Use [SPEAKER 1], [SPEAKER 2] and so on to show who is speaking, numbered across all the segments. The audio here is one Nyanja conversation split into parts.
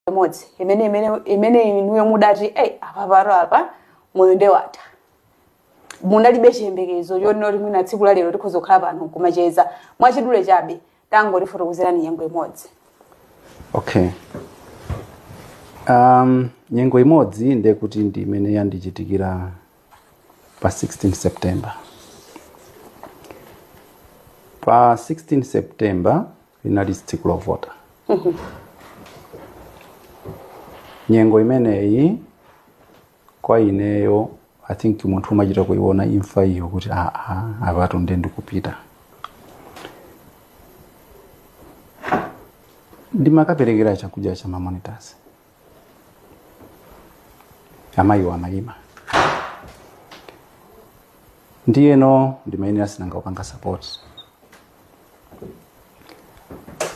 [SPEAKER 1] imodzi imene imene imene inuyo mudati ei apa patu apa moyo nde watha munalibe chiyembekezo chonena kuti mwina tsiku la lero tikhoza kukhala pano nkumacheza mwachidule chabe tangotifotokozerani nyengo imodzi
[SPEAKER 2] okay um, nyengo imodzi ndiye kuti ndi imene yandichitikira pa 16 september pa 16 september linali tsiku lovota nyengo imeneyi kwa ineyo i think munthu umachita kuiona imfa iyo kuti aa apatu nde ndikupita ndimakaperekera chakudya cha mamonitors amayiwa amayima ndiyeno ndimayenera sinanga kupanga support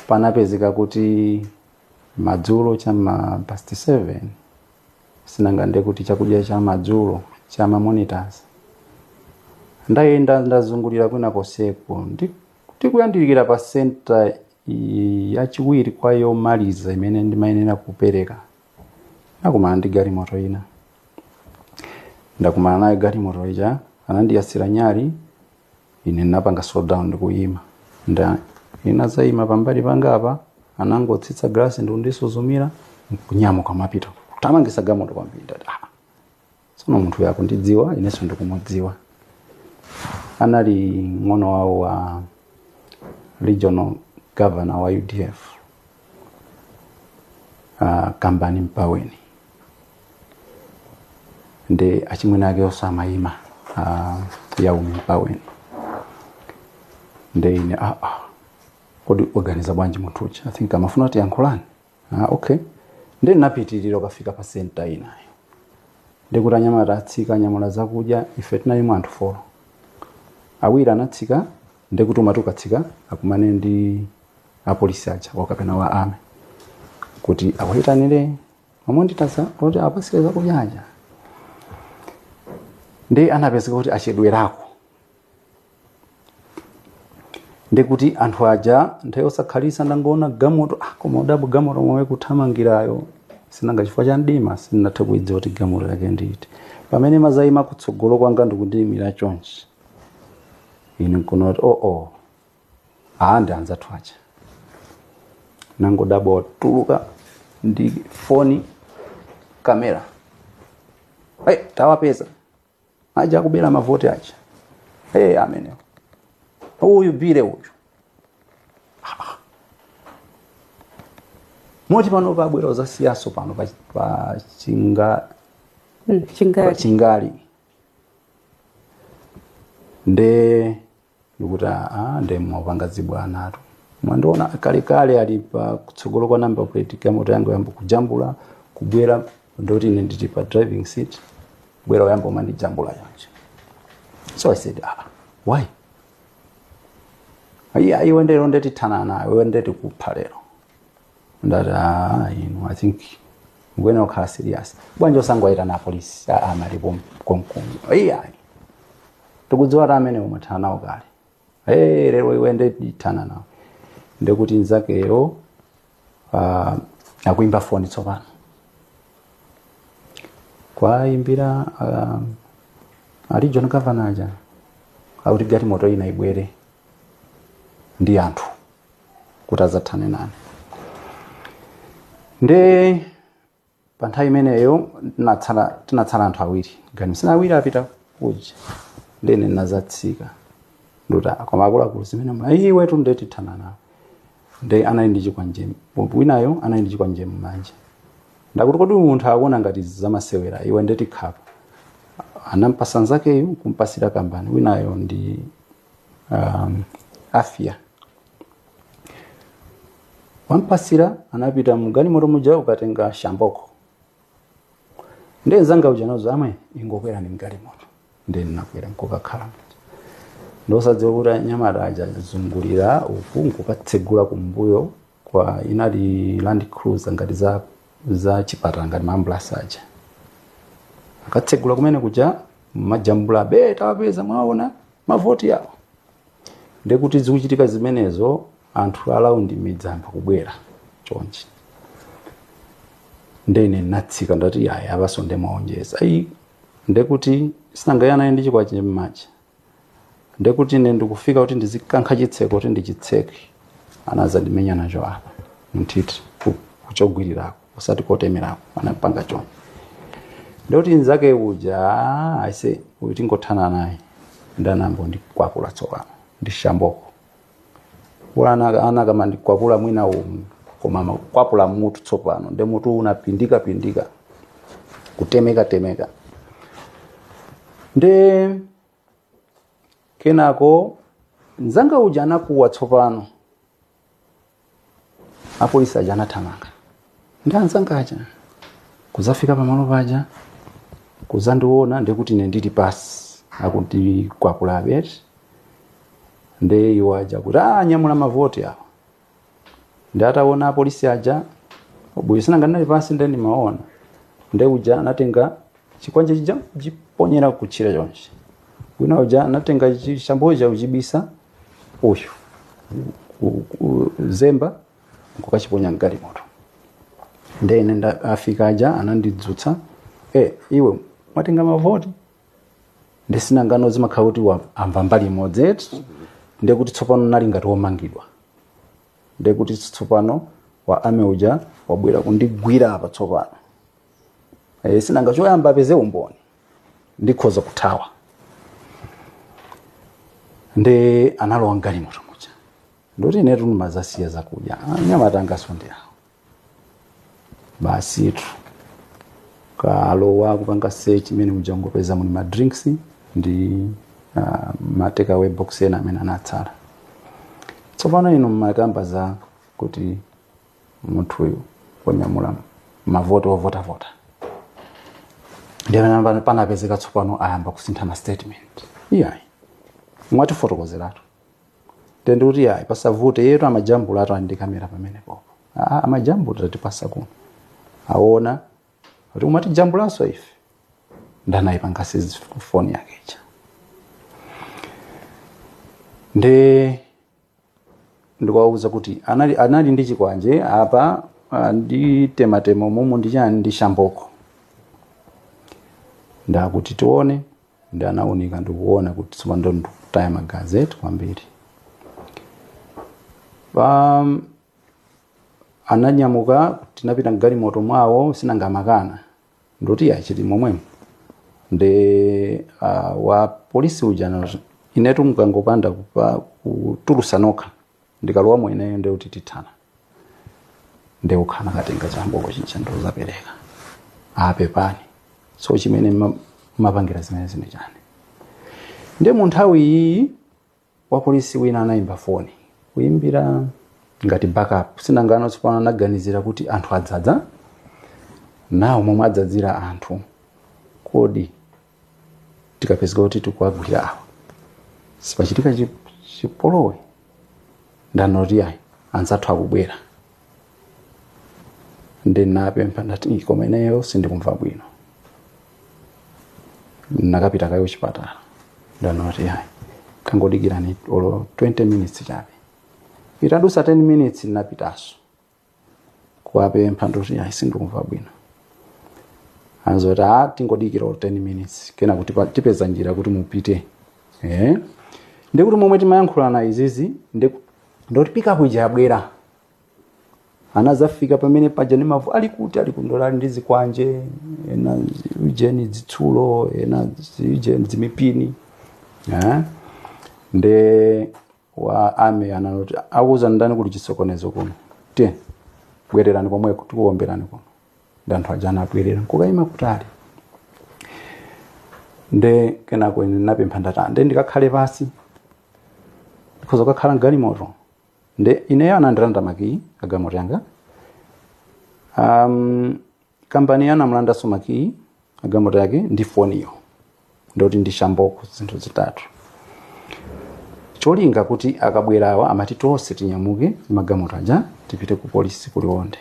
[SPEAKER 2] panapezeka kuti madzulo chama past 7 sinanga nde kuti chakudya cha madzulo cha mamonitors ndayenda ndazungulira kwina konseko ndi Kuyandikira pa senta yachiwiri kwa yomaliza imene ndimayenera kupereka. Ndakumana ndi galimoto ina. Ndakumana nayo galimoto ija, anandiyasira nyali, ine ndinapanga slow down ndikuyima. Nde inadzayima pambali pangapa, anangotsitsa galasi ndikundisuzumira, nkunyamuka kumapita. Kuthamangitsa galimoto kwambiri ndati, "Ah, tsono munthuyo akundidziwa inenso ndikumudziwa anali mng'ono wawo wa regional governor wa udf uh, kambani mpaweni ndi achimwene ake oti amayima uh, Yaumi mpaweni nde ine ah, ah, kodi waganiza bwanji munthu uja i think amafuna atiyankhule ah, okay nde napitirira kukafika pa senta inayo nde kuti anyamata atsika anyamula zakudya ife tinalimo anthu folo awiri anatsika nde kuti umati ukatsika akumane ndi apolisi aja wakapena wa army kuti akuyitanire mamonitors kuti uwapatsire zakudya aja nde anapezeka kuti achedwerako nde kuti anthu aja nthawi yosakhalitsa ndangoona gamoto ah, koma kudabwa gamoto momwe ikuthamangirayo sinanga chifukwa cha mdima sindinathe kuidziwa kuti gamoto yake ndi iti pamene imadzayima kutsogolo kwanga ndikundiyimira chonchi ine nkuona kuti oo oh, aa ndi anzathu aja nangodabwa watuluka ndi foni kamera hey, tawapeza aja okubera mavoti aja hey, amenewo uyu Bile uyu Ah. moti pano pabwera udzasiyanso pano pa, pa chinga Mm, pa Chingale Chingale nde ndikuti aa nde mwapanga zibwana inu mwandiona kalekale ali pa kutsogolo kwa number plate galimoto yanga nkuyamba kujambula kubwera ndoti ine ndili pa driving seat kubwera kuyamba kumandijambula chonchi so i said ah, why ayi ayi iwe lero nde tithana nawe iwe nde tikupha lero ndati "Ah, inu i think mukuyenera kukhala serious bwanji osangoyitana apolisi aja ali kom- konkuno iyayi tikudziwa kuti amene umathana nawo kale hey, lero iwe nde tithana nawe ndekuti nzakeyo ah, akuimba foni tsopano kuwaimbira ah, a regional governor aja akuti galimoto ina ibwere ndi anthu kuti adzathane nane nde pa nthawi imeneyo tinatsala tinatsala anthu awiri anthu ena awiri apita kuja ndene ndinazatsika ndati koma akuluakulu zimene mwa iwe tu nde tithana nawe nde anali ndi chikwanje winayo anali ndi chikwanje mmanja ndakuti kodi uyu munthu akuona ngati izi zamasewera iwe nde tikukhapa anampasa nzakeyo kupatsirana kambani winayo ndi um, after wampatsira anapita mgalimoto muja kukatenga shamboko nde nzanga uja nkuzati amwene ingokwerani mgalimoto nde ndinakwera nkukakhala muja ndisakudziwa kuti anyamata aja azungulira uku nkukatsegula kumbuyo coz inali land cruiser ngati za za chipatala ngati maambulasi aja akatsegula kumene kuja amajambula be tawapeza mwaona mavoti yawo ndekuti zikuchitika zimenezo anthu around midzi ayamba kubwera chonchi ndene natsika ndati iyayi apanso nde mwaonjeza ayi ndekuti sindinayang'ane ali ndi chikwanje mmanja ndekuti ine ndikufika kuti ndizikankha chitseko kuti ndichitseke anazandimenya nacho apa mthiti ku- kogwirirako usati kotemerako anapanga chonchi ndekuti nzake uja aise uyu tingothana naye nde anayamba kundikwapula tsopano ndi shamboko kuli ana- akanamandikwapula mwina umu koma amakwapula mutu tsopano nde mutu unapindikapindika kutemekatemeka nde kenako mzanga uja anakuwa tsopano apolisi aja anathamanga ndi anzanga aja kudzafika pamalo paja kudzandiona ndekuti ine ndili pasi akutikwapula apa eti nde iwo aja kuti anyamula mavoti awa nde ataona apolisi aja buyi sinanga ndinali pasi nde ndimaona nde uja anatenga chikwanje chija kuchiponyera kutchire chonchi wina uja anatenga chishamboko chija kuchibisa uyu ku- ku- zemba nkukachiponya mgalimoto nde ine nda- afika aja anandidzutsa e iwe mwatenga mavoti nde sinangano zimakhala kuti wa- amva mbali imodzi eti ndekuti tsopano nali ngati womangidwa ndekuti tsopano wa army uja wabwera kundigwira apa tsopano e, sinanga choyamba apeze umboni ndikhoza kuthawa nde analowa mgalimoto muja ndoti inetu ndimadzasiya zakudya anyamata anganso ndi awo basitu kalowa kupanga search mmene muja ngopeza muli ma drinks ndi uh, ma take away box ena amene anatsala tsopano inu mmakamba za kuti munthuyu wanyamula mavoti ovotavota ndi pamene anapezeka tsopano ayamba kusintha ma statement iyayi mwatifotokozera eti nde kuti yayi pasavute iyetu amajambulatu ali ndi kamera pamene pompo Ah, amajambula tatipatsa kuno aona kuti umatijambulanso ife nde anayipanga seize foni yake ija ndi ndikuwauza kuti anali, anali ndi chikwanje apa anditematema mumu ndi chani ndi shamboko nde akuti tione nde anaunika ndikuona kuti tsopano ndo ndikutaya magazi eti kwambiri um, ananyamuka tinapita mgalimoto mwawo sinanga amakana ndoti ayi chili momwemo nde uh, wa polisi uja anati, inetu mukangopanda kupa- kutulutsa nokha ndikalowamo ineyo nde kuti tithana nde uja anakatenga chamboko chija ndodzapereka ah pepani so chimene ma- mapangira zimenezi ndi chani nde mu nthawi iyi wapolisi wina anayimba foni kuyimbira ngati backup sinangano tsopano anaganizira kuti anthu adzadza nawo momwe adzadzira anthu kodi tikapezeka kuti tikuwagwira awa sipachitika chi- chipolowe nde anati ayi anzathu akubwera ndinapempha ndinati "Ih, koma ineyo sindikumva bwino ndikapita kaye kuchipatala anati ayi tangodikirani olo 20 minutes chabe itadusa 10 minutes ndinapitanso kuwapempha ndati ayi sindikumva bwino anati a tingodikira olo 10 minutes kena kuti pa- tipeza njira kuti mupite eh? ndiye kuti momwe timayankhulana izizi ndi ndoti pick up ija yabwera anadzafika pamene paja ni mavu ali kuti ali kundolali ndi zikwanje ena ujeni zitsulo ena ujeni zimipini eh? nde wa army anati wakuuzani ndani kuti chisokonezo kuno tiye bwererani komweko tikuomberani kuno ndi anthu aja anabwerera nkukayima kutali nde kenako ine napempha ndati nde ndikakhale pansi ndikhoza kukakhala mgalimoto nde ineyo anandilanda makiyi agalimoto yanga um, kampani anamulandanso makiyi agalimoto yake ndi foniyo, ndoti ndi shamboko zinthu zitatu cholinga kuti akabwera awa amati tonse tinyamuke magalimoto aja tipite ku polisi ku Liwonde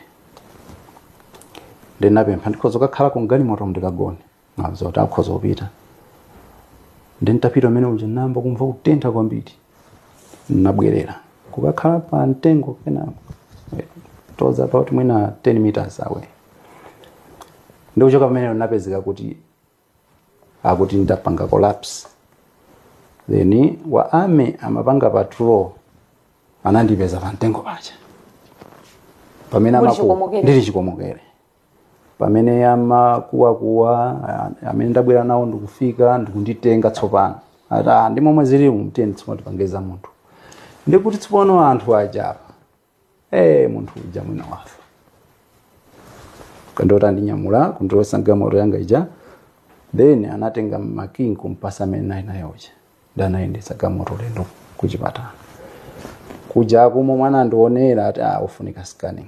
[SPEAKER 2] ndinapempha ndikhoza kukakhala ku mgalimoto ndikagone anati mukhoza kupita nde nditapita m'mene muja ndayamba kumva kutentha kwambiri nabwerera kukakhala pa mtengo pena eh, towards about mwina 10 meters away ndi kuchoka pamenepo napezeka kuti akuti ndapanga collapse then wa army amapanga patrol anandipeza pa mtengo paja pamene ndili amako- chikomokere ndili chikomokere pamene amakuwakuwa ah, amene ndabwera nawo ndikufika ndikunditenga tsopano ati ah, ndi momwe zili tiyeni tsopano tipangeza munthu ndikuti tsopano anthu aja apa eh munthu uja mwina wafa anadzandinyamula kundilowetsa mgamoto yanga ija then anatenga makiyi kumpasa amene ndinali naye uja nde anayendetsa gamoto ulendo kuchipatala kuja kumo m'mene anandionera ati ah, ufunika scanning